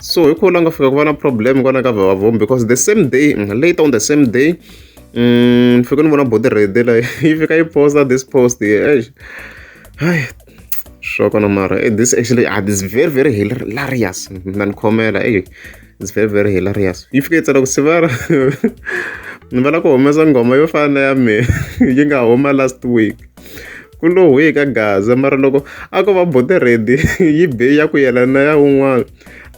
so hi kho la nga fika ku va na problem kwana ka vavavombi because the same day mm, later on the same day mm, ni fike ni vona body rede la yi fika yi posta this post hey sure kona mara eh, this actually ah, this very very hilarious mina ni khomela hey it's very very hilarious yi fike yi tsala ku sivara ni vana ku humesa nghoma yo fana na ya mina yi nga huma last week ku lo hwi ka gaza mara loko a ko va bote ready yi be ya ku yelana na ya un'wana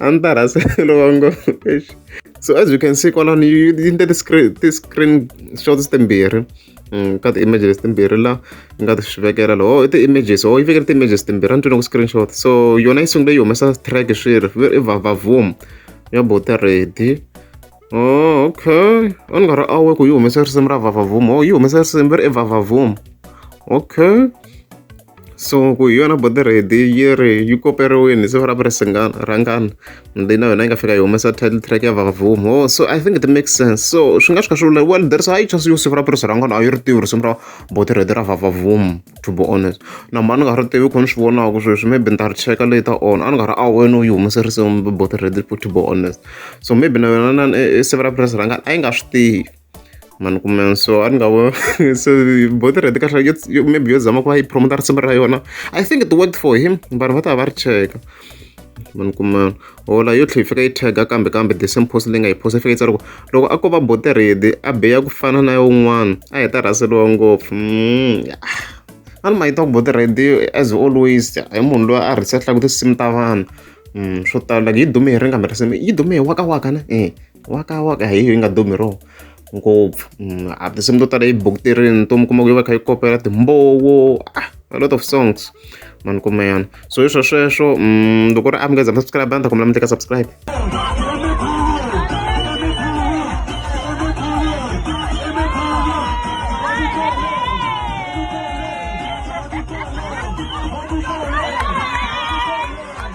a ni ta rhasa lova ngo so as you can see kwalani yi endle ti-screen ti-screen shots timbirhi Mm, ka ti-images timbirhi la nga ti swi vekela loho i ti-images ho yi vekele ti-images timbirhi a ni twile ku screenshot so yona yi sungule yi humesa track swi ri i vavavum ya bote ready Oh, okay a ni nga ri awe ku yi humesa risimu ra vavavum o oh, yi humesa risimu ri i vavavum okay so ku hi yona body ready yi ri yi koperiwini se ra vuri singana rhangana ndi na yona yi nga fika yi humesa title track ya vavavum o oh, so i think it makes sense so swi nga swi kha swi vula well there is a hi chance yo siku ra vuri sirhangana a yi ri tivi risimu ra body ready ra vavavum to be honest. Na hambi a ni nga ri tivi hi kona ni swi vonaka sweswi, maybe ni ta ri cheka later on. A ni nga ri aware no yi humelerise both already to be honest. So maybe na yona inana i siva ra purasi ra ngati a yi nga swi tivi. Ma ni kumela? So a ni nga so both already kahlekahle yo maybe yo zama ku va yi promote-a risimu ra yona, I think it worked for him vanhu va ta va va ri cheka. ma ni kuma hola yo tlhe yi fika yi tag-a kambe kambe the same post leyi nga yi post-a yi fika yi tsala ku loko a ko va bote ready a biya ku fana na ya un'wana a heta rhaseliwa ngopfu a ni ma yi ta ku bote ready as always hi munhu loyi a rhisehlaka tinsimu ta vanhu swo tala like yi dume hi ri nga mi risimu yi dume hi waka waka ne e waka waka hi yi nga dumi hi rona ngopfu mm, a tinsimu to tala yi bukutirini to mi kuma ku yi va kha yi kopela timbowo ah, a lot of songs mani kuma yana so hi swo sweswo mm, loko ri amukeza subscribe a ni ta kombela mi teka subscribe